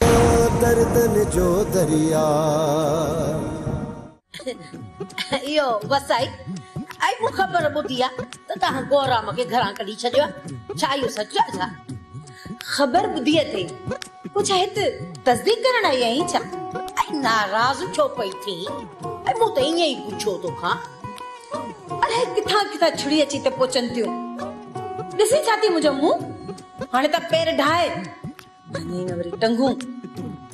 تو دردن جو درياء. اهو بس آهي ۽ مون خبر ٻڌي آ ته توهان گورام کي گهران ڪڍي ڇڏيو آ ڇا اهو سچ آ ڇا؟ خبر ٻڌي اٿئي پوء ڇا هت تصديق ڪرڻ آئي آهين ڇا؟ ۽ ناراض ڇو پئي ٿين ۽ مون ته ائين ئي پڇيو توکان الاهي ڪٿان ڪٿان ڇڙي اچي ته پهچن ٿيون ڏسين ڇا ٿي منهنجو منهن هاڻي ته پير ڊاهه ڀڃي نه وري ٽنگون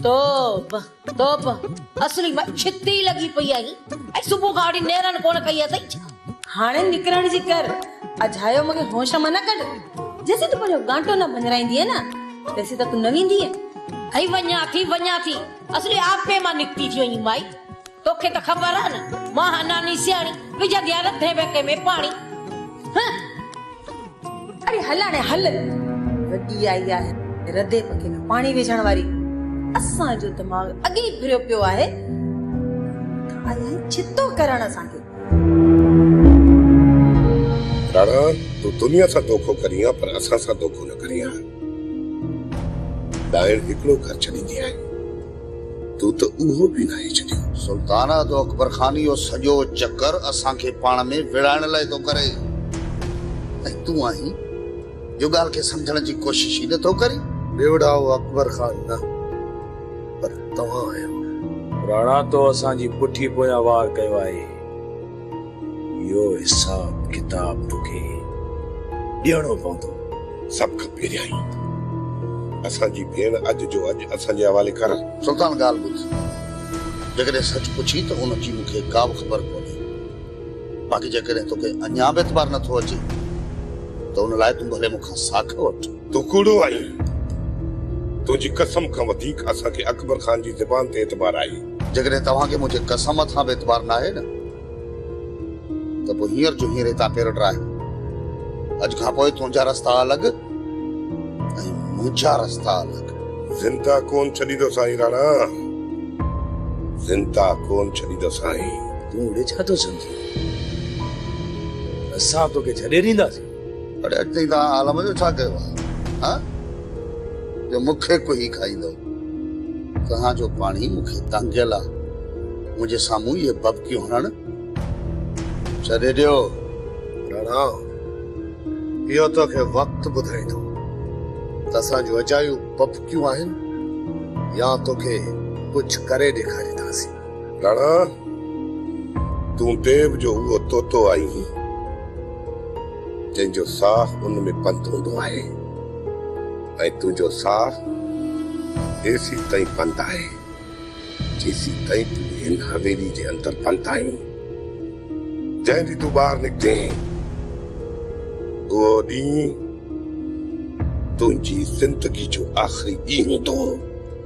توب توب اصل مان ڇتي لڳي پئي آهي ۽ صبح کان وٺي نيرن ڪونه ڪئي اٿئي ڇا هاڻي نڪرڻ جي ڪر اجهايو مونکي هوش مان نه ڪڍ جيسين تون پنهنجو گانٽو نه ڀڃرائيندينء نه تيسين ته تون نه ويندينء. ٿي وڃان ٿي وڃان ٿي اصل آپي مان نڪتي ٿي وڃي مائي. توکي ته خبر آ نه مان هان ناني سياڻي وجهندي آ رڌي ويڪي ۾ پاڻي هه اڙي هل هاڻي هل وڏي آئي آهي رڌي وڪي ۾ پاڻي وجهڻ واري اسان جو دماغ اڳي ئي ڦريو پيو آهي ته آئي آهي ڇتو ڪرڻ اسان کي راڻا تون دنيا سان دوکو ڪرين ها پر اسان سان دوکو نه ڪرين ها ڏائڻ هڪڙو گهر ڇڏيندي آهي. تو ته اهو به ناهي ڇڏيو. سلطانه تو اڪبر خان اهو سڄو چڪر اسان کي پاڻ ۾ وڙهائڻ لاء ٿو ڪري ۽ تون آهين جو ڳالهه کي سمجهڻ جي ڪوشش ئي نه ٿو ڪرين. ٻيوڙائو اڪبر خان نه پر توهان آهيو. راڻا تو اسان جي پٺي پويان وار ڪيو آهي. اهو حساب ڪتاب توکي ڏيڻو پوندو. سڀ کان پهريائين ته اسان جي ڀيڻ اڄ جو اڄ اسان جي حوالي ڪر. سلطان ڳالهه ٻڌ. جيڪڏهن سچ پڇين ته ان جي مون کي ڪا به خبر ڪونهي. باقي جيڪڏهن توکي اڃا به اعتبار نٿو اچي ته ان لاء تون ڀلي مون کان ساک وٺ. تون ڪوڙو آهين. تنهنجي قسم کان وڌيڪ اسان کي اڪبر خان جي زبان تي اعتبار آهي. جيڪڏهن توهان کي منهنجي قسم تان به اعتبار ناهي نه ته پوء هينئر جو هينئر هتان پير ٽراهه. اڄ کان پوء تنهنجا رستا الڳ ۽ منهنجا رستا الڳ. زنده ڪونه ڇڏيندو سائين راڻا، زنده ڪونه ڇڏيندو سائين. تون اڙي ڇا ٿو سمجهين؟ اسان توکي ڇڏي ڏينداسين؟ اڙي اڳتي توهان عالم جو ڇا ڪيو آهي؟ ها؟ جو مون کي ڪوهي کائيندؤ؟ توهان جو پاڻي مون کي تانگهيل آ، منهنجي سامهون اهي ڀڀڪيون هڻڻ ڇڏي ڏيو. راڻا، اهو تو کي وقت ٻڌائيندو ته اسان جون اجايون ڀڀڪيون آهن يا تو کي ڪجهه ڪري ڏيکارينداسين. ڌڻا، تون ديو جو اهو طوطو آهين، جنهن جو ساهه ان ۾ بند هوندو آهي ۽ تنهنجو ساهه ايسين تائين بند آهي، جيسين تائين تون هن حويلي جي اندر بند آهين، جنهن ڏينهن تون ٻاهر نڪتين، اهو ڏينهن تنهنجي زندگي جو آخري ڏينهن هوندو.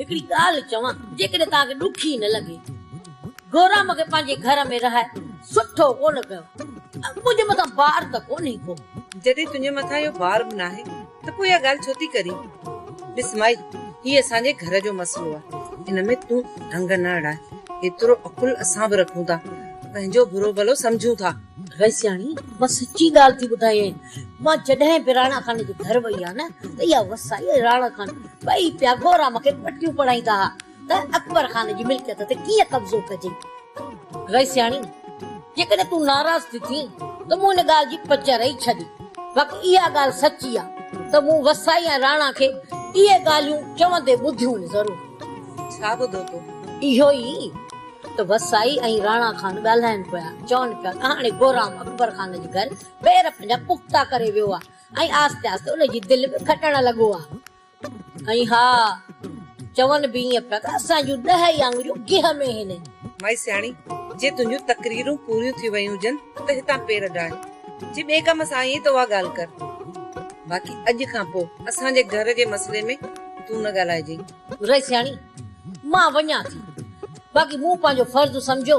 هڪڙي ڳالهه چوان، جيڪڏهن توهان کي ڏکي نه لڳي، گورام کي پنهنجي گهر ۾ رهائي سٺو ڪونه ڪيو. منهنجي مٿان بار ته ڪونهي ڪو؟ جڏهن تنهنجي مٿان اهو بار به ناهي ته پوء اها ڳالهه ڇو ٿي ڪرين؟ ڏس مائي، هي اسان جي گهر جو مسئلو آهي، ان ۾ تون ڍنگ نه اڙائي. ايترو عقل اسان به رکون ٿا، پنهنجو برو ڀلو سمجهون ٿا. ويسياڻي، مان سچي ڳالهه ٿي ٻڌايين. مان جڏهن به راڻا خان جي گهر وئي آهيان ته اها وسائي راڻا خان ٻئي پيا گورا مون کي پٽيون پڙهائيندا ها ته اڪبر خان جي ملڪيت تي ڪيئن قبضو ڪجي. رئيسياڻي! جيڪڏهن تون ناراض ٿي ٿين ته مون ان ڳالهه جي پچر ئي ڇڏي. باقي اها ڳالهه سچي آ ته مون وسائي ۽ راڻا کي اهي ڳالهيون چوندي ٻڌيون ئي ضرور. ڇا ٻڌو تو؟ اهو ئي ته وسائي ۽ راڻا خان ڳالهائين پيا، چون پيا ته هاڻي گورام اڪبر خان جي گهر ٻيهر پنهنجا پختا ڪري ويو آ. ۽ آهستي آهستي ان جي دل به کٽڻ لڳو آ ۽ ها چون به ائين پيا ته اسان جون ڏهه ئي آڱريون گيهه ۾ هين. مائي سياڻي، جي تنهنجون تقريرون پوريون ٿي ويون هجن ته هتان پير ڊاهه، جي ٻئي ڪم سان آئي آهين ته اها ڳالهه ڪر. باقي اڄ کان پوء اسان جي گهر جي مسئلي ۾ تون نه ڳالهائجي. رئي سياڻي، مان وڃان ٿي، باقي مون پنهنجو فرض سمجهيو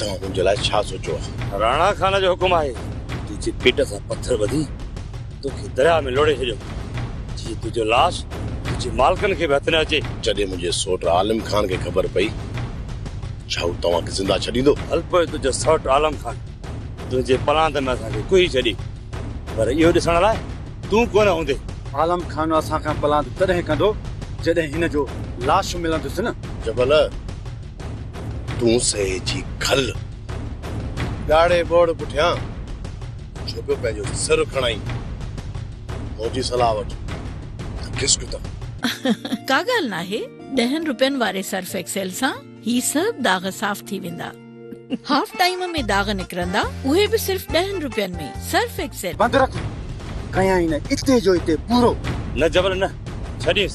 توهان منهنجي لاء ڇا سوچيو آهي؟ راڻا خان جو حڪم آهي. تنهنجي پيٽ سان پٿر ٻڌي توکي درياء ۾ لوڙهي ڇڏيو، جيئن تنهنجو لاش تنهنجي مالڪن کي به هٿ نه اچي. جڏهن منهنجي سؤٽ عالم خان کي خبر پئي، ڇا هو توهان کي زنده ڇڏيندو؟ هل پوء تنهنجو سؤٽ عالم خان تنهنجي پلاند ۾ اسان کي ڪهي ڇڏي، پر اهو ڏسڻ لاء تون ڪونه هوندين. عالم خان اسان کان پلاند تڏهن ڪندو، جڏهن هن جو لاش ملندس نه. جبل! تون سهي جي کل ڳاڙهي ٻوڙ پٺيان ڇو پيو پنهنجو سر کڻائين مون جي صلاح وٺ ته کسڪ ته ڪا ڳالهه ناهي ڏهن روپين واري سرف ايڪسيل سان هي سڀ داغ صاف ٿي ويندا هاف ٽائيم ۾ داغ نڪرندا اهي به صرف ڏهن روپين ۾ سرف ايڪسيل. بند رک ڪيائين اتي جو اتي پورو. نه جبل نه ڇڏيس.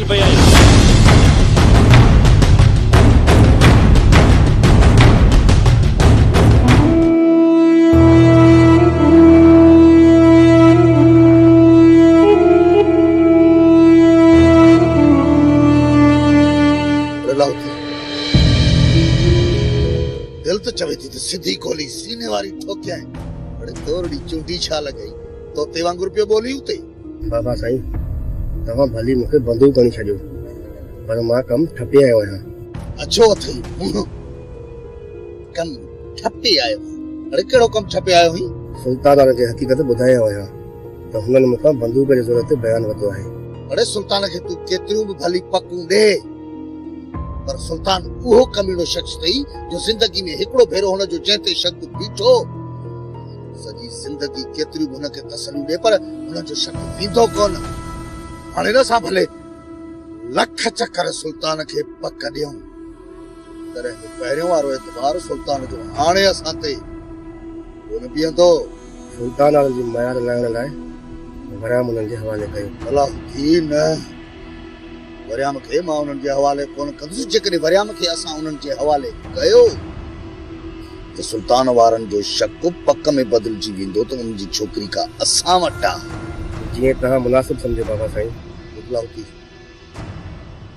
پئي آهي. دل ته چوي ٿي ته سڌي گولي سيني واري ٺوڪيائين. اڙي تورڙي چونڊي ڇا لڳائي؟ طوطي وانگر پيو ٻولين اتي. بابا سائين توهان ڀلي مون کي بندو بڻي ڇڏيو پر مان ڪم ٺپي آيو آهيان. اڇو اٿئي منهن ڪم ٺپي آيو آهين اڙي ڪهڙو ڪم ٺپي آيو آهين. سلطانان کي حقيقت ٻڌايان آهيان ته هنن مون کان بندوق جي زور تي بيان ورتو آهي. اڙي سلطان کي تون ڪيتريون به ڀلي پڪون ڏي پر سلطان اهو ڪميڻو شخص اٿئي جو زندگي ۾ هڪڙو ڀيرو هن جو جنهن تي شڪ بيٺو سڄي زندگي ڪيتريون به هن کي تسليون ڏي پر هن جو شڪ ويندو ڪونه. هاڻي نه اسان ڀلي لک چڪر سلطان کي پڪ ڏيون. تڏهن به پهريون وارو اعتبار سلطان جو هاڻي اسان تي ڪونه بيهندو. سلطان عالم جي ميار لهڻ لاء غرام انهن جي حوالي ڪيو. بلا هوندي نه. وريام کي مان انهن جي حوالي ڪونه ڪندس، جيڪڏهن وريام کي اسان انهن جي حوالي ڪيو ته سلطان وارن جو شڪ پڪ ۾ بدلجي ويندو ته ان جي ڇوڪري ڪا اسان وٽ آهي. جيئن توهان مناسب سمجهو بابا سائين. ڏکلا هوتي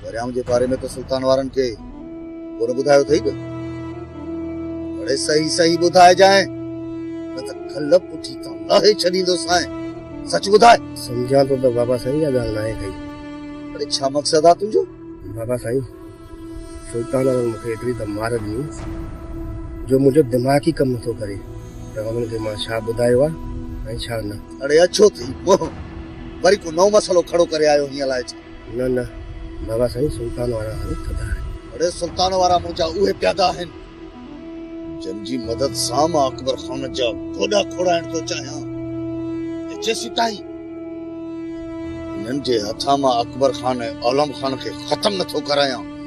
وريام جي باري ۾ ته سلطان وارن کي. ڪونه ٻڌايو اٿئي ته اڙي صحيح صحيح ٻڌائجانء نه ته کل پٺي تان لاهي ڇڏيندوسانء سچ ٻڌاء. سمجهان ٿو ته بابا سائين اها ڳالهه ناهي ڪئي. اڙي ڇا مقصد آ تنهنجو؟ بابا سائين سلطان احمد مون کي ايتري ته مار ڏني جو منهنجو دماغ ئي ڪم نٿو ڪري ته انهن کي مان ڇا ٻڌايو آ ۽ ڇا نه. اڙي اڇو ٿي منهن وري ڪو نئون مسئلو کڙو ڪري آيو هين الائي ڇا؟ نه نه بابا سائين سلطان وارا هاڻي ٿڌا آهن. اڙي سلطان وارا منهنجا اهي پيادا آهن جن جي مدد سان مان اڪبر خان جا گوڏا کوڙائڻ ٿو چاهيان ۽ جيسيتائين انهن جي هٿان مان اڪبر خان ۽ عالم خان کي ختم نه ٿو ڪرايان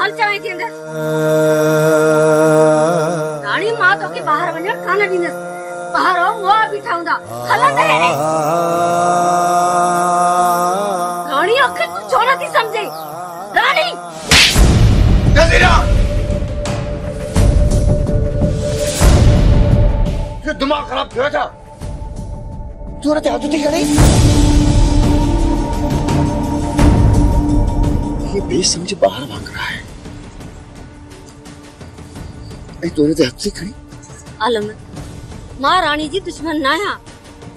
هل چوين ٿي اندر. راڻي مان توکي ٻاهر وڃڻ ڪانه ڏيندس. ٻاهر او موئا بيٺا هوندا. هل اندر هيڏي. راڻي آخر تون ڇو نٿي سمجهين. راڻي! جزيره! تنهنجو دماغ خراب ٿيو آهي ڇا؟ چور تي هٿ ٿي کڻي. هيء بي سمجهه ٻار وانگر آهي ۽ چور تي هٿ ٿي کڻي. عالم، مان راڻي جي دشمن ناهيان،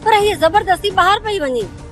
پر هيء زبردستي ٻاهر پئي وڃي.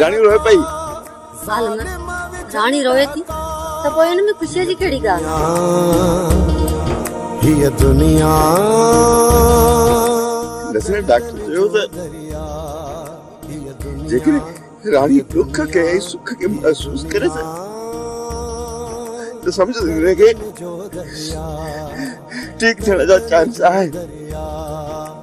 راڻي روئي پئي. ظالمن! راڻي روئي ٿي ته پوء ان ۾ خوشيء جي ڪهڙي ڳالهه؟ نسرين ڊاڪٽر چيو ته جيڪڏهن راڻي ڏک کي ۽ سک کي محسوس ڪري ته سمجهه ته هن کي ٺيڪ ٿيڻ جا چانس آهن.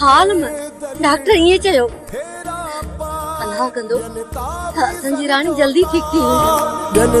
حال ۾ ڊاڪٽر ائين چيو الله ڪندو ته اسان جي راڻي جلدي ٺيڪ ٿي ويندي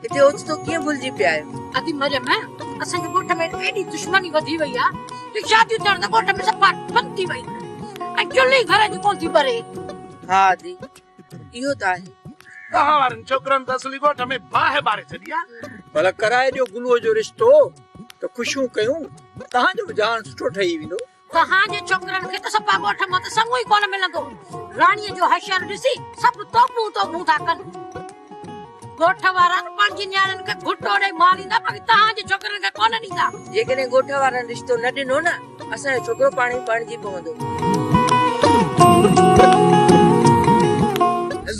هتي اوچتو ڪيئن ڀلجي پيا آهيو. ادي مريم اسان جي ڳوٺ ۾ ايڏي دشمني وڌي وئي آ جو شاديون ٿيڻ ته ڳوٺ ۾ صفا بند ٿي ويون ۽ چلهي گهر جي ڪونه ٿي ٻري. ها ادي اهو ته آهي. توهان وارن ڇوڪرن ته اصلي ڳوٺ ۾ باهه ٻاري ڇڏي آ. ڀلا ڪرائي ڏيو گلوء جو رشتو ته خوشيون ڪيون. توهان جو به جهان سٺو ٺهي ويندو. توهان جي ڇوڪرن کي ته سپا ڳوٺ مان ته سڱو ئي ڪونه ملندو. راڻيء جو حشر ڏسي سڀ توبون توبون ٿا ڪن. ڳوٺ وارا ته پنهنجي نياڻين کي گهٽو ڏئي ماريندا باقي توهان جي ڇوڪرن کي ڪونه ڏيندا. جيڪڏهن ڳوٺ وارن رشتو نه ڏنو نه ته اسان جو ڇوڪرو پاڻ ئي پرڻجي پوندو.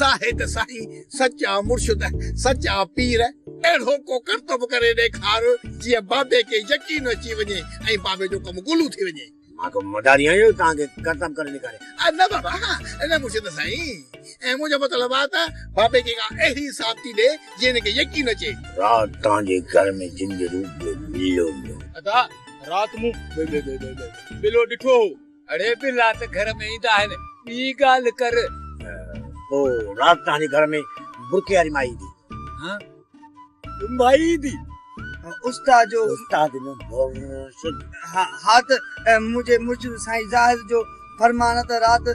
زاهد سائين سچ آ مرشد سچ آ پير اهڙو ڪو ڪرتب ڪري ڏيکار جيئن بابي کي يقين اچي وڃي ۽ بابي جو ڪم گلو ٿي وڃي. مان ڪو مداري آهيان جو توهان کي ڪرتب ڪري ڏيکاريان. نه بابا نه مرشد سائين منهنجو مطلب آ ته بابي کي ڪا اهڙي ثابتي ڏي جيئن هن کي يقين اچي. رات توهان جي گهر ۾ جن جي روپ ۾ بلو ايندو هو. ادا رات مون بلو ڏٺو هو. اڙي به رات گهر ۾ ايندا آهن ٻي ڳالهه ڪر. پوء رات تنهنجي گهر ۾ برقعي واري مائي ايندي. ها مائي ايندي استاد جو. استاد نه مرشد. ها ته منهنجي مرشد سائين زاهد جو فرمان آهي ته رات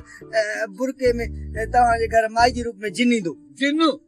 برقعي ۾ توهان جي گهر مائي جي روپ ۾ جن ايندو. جن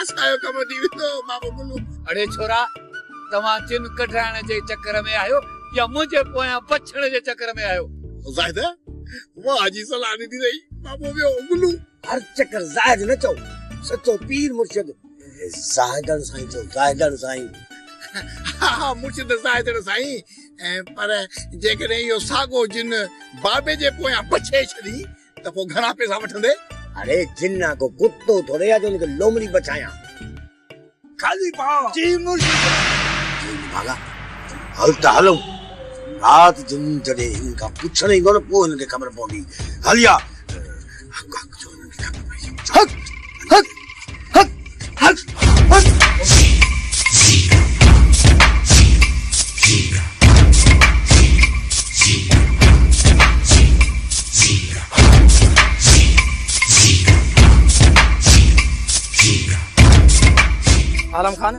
اسان جو ڪم ٿي ويندو مامو گلو. اڙي ڇورا توهان چن ڪڍرائڻ جي چڪر ۾ آهيو يا منهنجي پويان بڇڙ جي چڪر ۾ آهيو. زاهده واهه جي صلاح ڏني اٿئي مامو ويو گلو. هر چڪر زاهد نه چئو سچو پير مرشد زاهدڻ سائين چئو زاهدڻ سائين. ها ها مرشد زاهدڻ سائين پر جيڪڏهن اهو ساڳو جن بابي جي پويان بڇي ڇڏين ته پوء گهڻا پئسا وٺندي؟ اڙي جنا ڪو ڪتو ٿوري آ جو ان کي لومڙي بڇايان. خالي پاء جي مرشد. جن ڀاڳا هل ته هلون. رات جن جڏهن هنن کان پڇڻ ايندو نه پوء هنن کي خبر پوندي. هليا. هڪ هڪ جو هنن کي خبر پئجي وڃي. هڪ هڪ. عالم خان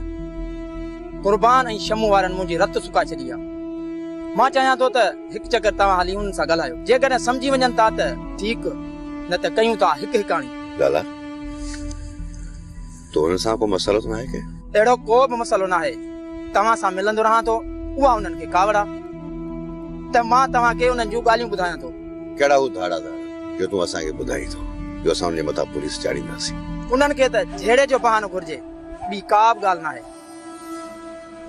قربان ۽ شمو وارن منهنجي رت سڪا ڇڏي آ مان چاهيان ٿو ته هڪ چڪر توهان هلي انهن سان ڳالهايو جيڪڏهن سمجهي وڃن ٿا ته ٺيڪ نه ته ڪيون ٿا هڪ هڪاڻي ڳالهه تو انهن سان ڪو مسئلو ته ناهي ڪنهن؟ اهڙو ڪو به مسئلو ناهي. توهان سان ملندو رهان ٿو. اها انهن کي ڪاوڙ آ ته مان توهان کي انهن جون ڳالهيون ٻڌايان ٿو. ڪهڙا هو ڌاڙا ڌاڙا جو تون اسان کي ٻڌائين ٿو جو اسان انهن جي مٿان پوليس چاڙهينداسين. انهن کي ته جهيڙي جو بهانو گهرجي ٻي ڪا به ڳالهه ناهي.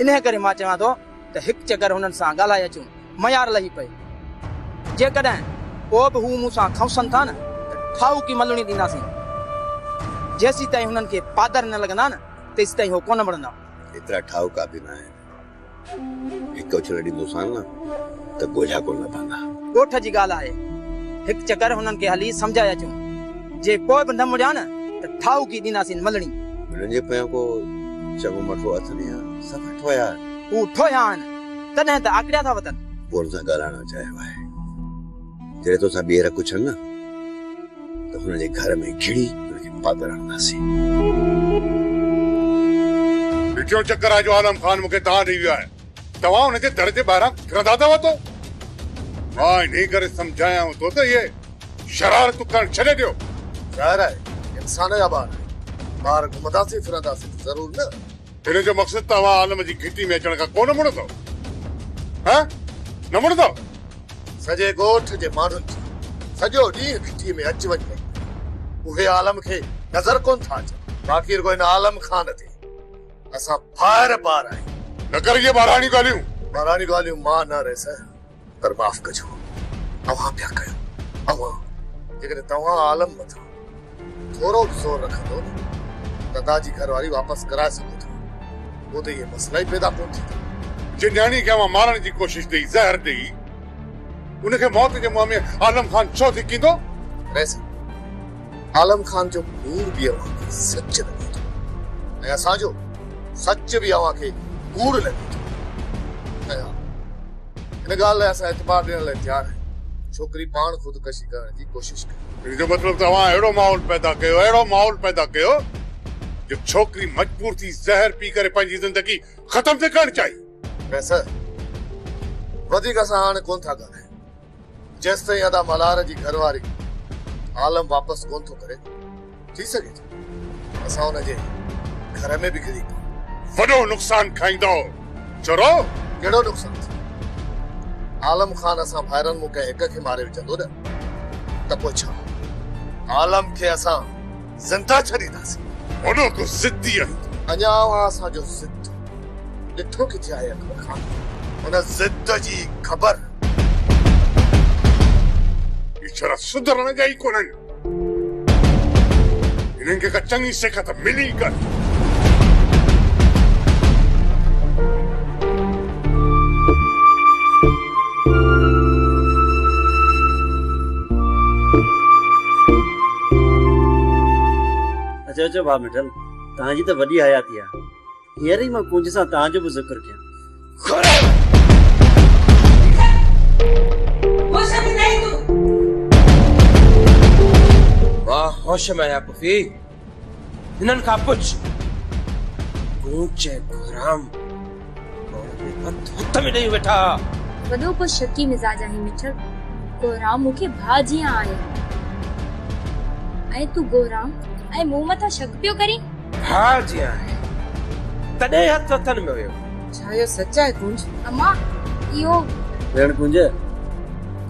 انهيء ڪري مان چوان ٿو ته هڪ چڪر هنن سان ڳالهائي اچون. ميار لهي پئي. جيڪڏهن پوء به هو مون سان کنوسن ٿا نه ته ٺاهوڪي ملڻي ڏينداسين. جيسيتائين هنن کي پادر نه لڳندا نه تيسيتائين هو ڪونه مڙندا. ايترا ٺاهوڪا به نه آهن. هڪ اڇلو ڏيندوسان نه ته ڳوجها ڪونه لڀندا. ڳوٺ جي ڳالهه آهي. هڪ چڪر هنن کي هلي سمجهائي اچون. جي پوء به نه مڙيا نه ته ٺاهوڪي ڏينداسين ملڻي. هنن جي پويان ڪو چڱو مٺو اٿ نه آهي. سدا ٺوهيا آهن. هو ٺوهيا آهن. تڏهن ته آڪڙيا ٿا وتن. پوڙهن سان ڳالهائڻ نه چاهيو آهي. جڏهن توسان ٻيهر ڪڇن نه ته هن جي گهر ۾ گهڙي هن کي پاڳل هڻنداسين. ڏٺيو چڪر آهي جو عالم خان مون کي تان ڏئي ويو آهي. توهان هن جي در جي ٻاهران ڦرندا اٿو تو مان انهي ڪري سمجهايائون ٿو ته اهي شرارتون ڪرڻ ڇڏي ڏيو. ظاهر آهي انسان جا ٻار آهن. ٻاهر گهمنداسين ڦرنداسين ته ضرور نه. هن جو مقصد ته اوهان عالم جي گهٽي ۾ اچڻ کان ڪونه مڙندؤ. ها نه مڙندؤ؟ سڄي ڳوٺ جي ماڻهن جي سڄو ڏينهن گهٽي ۾ اچ وڃ رهندي آهي. اهي عالم کي نظر ڪونه ٿا اچن. باقي رڳو هن عالم خان تي اسان ڦائر پار آهيون. نه ڪر اهي ٻاراڻيون ڳالهيون. ٻاراڻيون ڳالهيون مان نه ريس. پر معاف ڪجو اوهان پيا ڪيو اوهان جيڪڏهن توهان عالم مٿان ٿورو به زور رکندو نه ته ادا جي گهر واري واپس ڪرائي سگهو ٿا پوء ته اهي مسئلا ئي پيدا ڪونه ٿيندا. جنهن نياڻي کي اوهان مارڻ جي ڪوشش ڏئي زهر ڏئي ان کي موت جي منهن ۾ عالم خان ڇو ڌڪيندو؟ رئيس صاحب عالم خان جو ڪوڙ به اوهان کي سچ لڳي ٿو ۽ اسان جو سچ به اوهان کي ڪوڙ لڳي ٿو ۽ ها ان ڳالهه لاء اسان اعتبار ڏيڻ لاء تيار آهيون ڇوڪري پاڻ خودڪشي ڪرڻ جي ڪوشش ڪئي. ان جو مطلب ته اوهان اهڙو ماحول پيدا ڪيو اهڙو ماحول پيدا ڪيو جو ڇوڪري مجبور ٿي زهر پي ڪري پنهنجي زندگي ختم ٿي ڪرڻ چاهي. پروفيسر وڌيڪ اسان هاڻ ڪونه ٿا ڳالهايون. جيستائين ادا ملهار جي گهر واري عالم واپس ڪونه ٿو ڪري ٿي سگهي ٿو اسان ان جي گهر ۾ به ڪري پئون. وڏو نقصان کائيندؤ چرؤ. ڪهڙو نقصان ٿيو عالم خان اسان ڀائرن مون ڪنهن هڪ کي ماري وجهندو نه ته پوء ڇا عالم کي اسان. زنده ڇڏينداسين. اوڏو ڪو ضدي آهين تون. اڃا اوهان اسان جو ضد ڏٺو ڪٿي آهي اڪبر خان؟ ان ضد جي خبر. هي ڇڙا سڌرڻ جا ئي ڪونهن. هنن کي ڪا چڱي سيک ته ملي ئي ڪانه. اچو اچو ڀاء مٺل توهان جي ته وڏي حياتي آ هينئر ئي مان ڪنج سان توهان جو به ذڪر ڪيان ڀاء هوش ۾ آهيان پڦي هنن کان پڇ، گونچ ۽ ڪهرام ڪوڙ ۾ هٿ هٿ ۾ ڏيئي ويٺا ها. وڏو ڪو شڪي مزاج آهين مٺڙ. ڪهرام مون کي ڀاء جيان آهي. ۽ تون ڪهرام ۽ مون مٿان شڪ پيو ڪرين؟ ڀاء جيان آهي، تڏهن هٿ هٿن ۾ هيو. ڇا اهو سچ آهي ڪونج؟ امان، اهو. ڀيڻ ڪونج،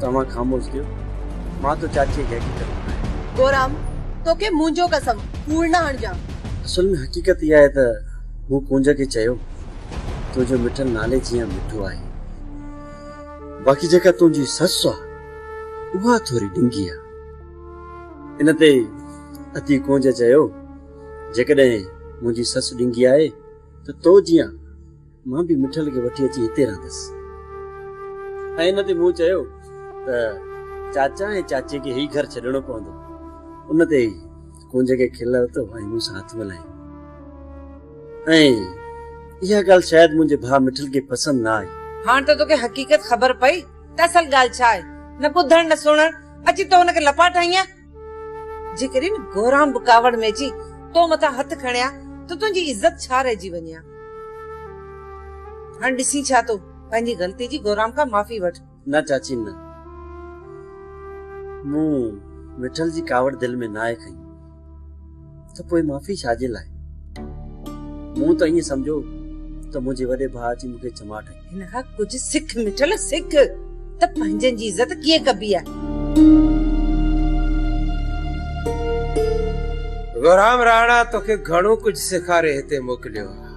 توهان خاموش ٿيو، مان ٿو چاچيء کي حقيقت ٻڌايان. گورام، توکي منهنجو قسم، ڪوڙ نه هڻجان. اصل ۾ حقيقت اها آهي ته مون ڪونج کي چيو، تنهنجو مٺل نالي جيان مٺو آهي، باقي جيڪا تنهنجي سس آهي، اها ٿوري ڊنگي آهي. ان تي اتي ڪونج چيو، جيڪڏهن منهنجي سس ڊنگي آهي، ته تو جيان مان به مٺل کي وٺي اچي هتي رهندس. ۽ ان تي مون چيو ته چاچا ۽ چاچي کي هي گهر ڇڏڻو پوندو. ان تي ڪونج کي کل لٿو ۽ مون سان هٿ ملائي. ۽ اها ڳالهه شايد منهنجي ڀاء مٺل کي پسند نه آئي. هاڻ ته توکي حقيقت خبر پئي ته اصل ڳالهه ڇا آهي. نه ٻڌڻ نه سڻڻ. اچي تو هن کي لپاٽ هنئين ها. جيڪڏهن گوران به ڪاوڙ ۾ اچي تو مٿان هٿ کڻي ها ته تنهنجي عزت ڇا رهجي وڃي ها. هاڻ ڏسين ڇا ٿو پنهنجي غلطي جي گوران کان معافي وٺ. نه چاچي نه. مون مٺل جي ڪاوڙ دل ۾ ناهي کنئي. ته پوء معافي ڇا جي لاء؟ مون ته ائين سمجهيو ته منهنجي وڏي ڀاء اچي مون کي چماٽ هنئي. هن کان ڪجهه سک مٺل سک ته پنهنجن جي عزت ڪيئن ڪبي آهي. غرام راڻا توکي گهڻو ڪجهه سيکاري هتي موڪليو آهي.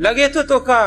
لڳي ٿو توکان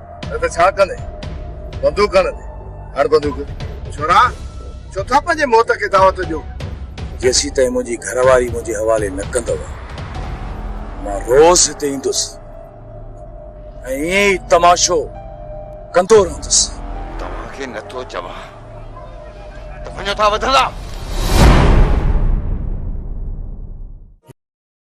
نه ته ڇا ڪندين؟ بندوق کڻندي؟ هڻ بندوق. ڇوڙا، ڇو ٿا پنهنجي موت کي دعوت ڏيو؟ جيسين تائين منهنجي گهر واري منهنجي حوالي نه ڪندؤ، مان روز هتي ايندس ۽ ائين ئي تماشو ڪندو رهندس. توهان کي نه ٿو چوان ته وڃو ٿا وڌندا.